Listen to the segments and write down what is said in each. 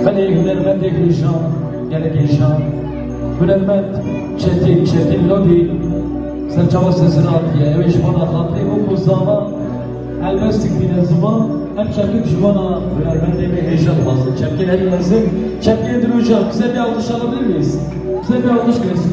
Belê hunermendê Guljan gelekê şan, hunermend Çetin, Çetin Lodi serçava sesini atiye. Ew ê ji wana xatirê wek ku zaman helbest dikîne ziman, ev çekik ji wana hunermendê me hêja dixwazin. Çekê herî mezin, çekê din û jan. Bize bê alqişa xwe bivîst. Bize bê alqiş girêsin.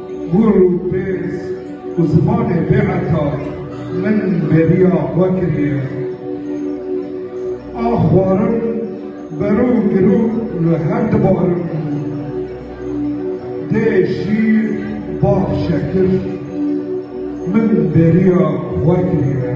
Hûr û pêz û zimanê bêheta min bêriya xwe kiriye. A xwarin berû girû li her di barin bû. Dê şîr bax şekir min bêriya xwe kiriye.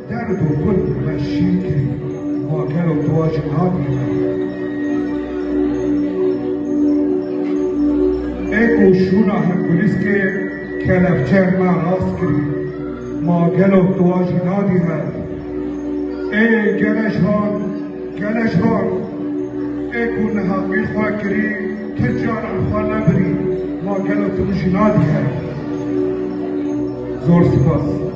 Derd û gul me şîn kirî. Ma gelo tu a jin hatî me. Ê ku şûna hin gulîskê kelepçeyên me rast kirî. Ma gelo tu a jin hatî me. Ê gele ji van, gele ji van. Ê ku niha qîr xwe kirî, ti caran xwe nebirî. Ma gelo tu min jin hatî me. Zor sipas.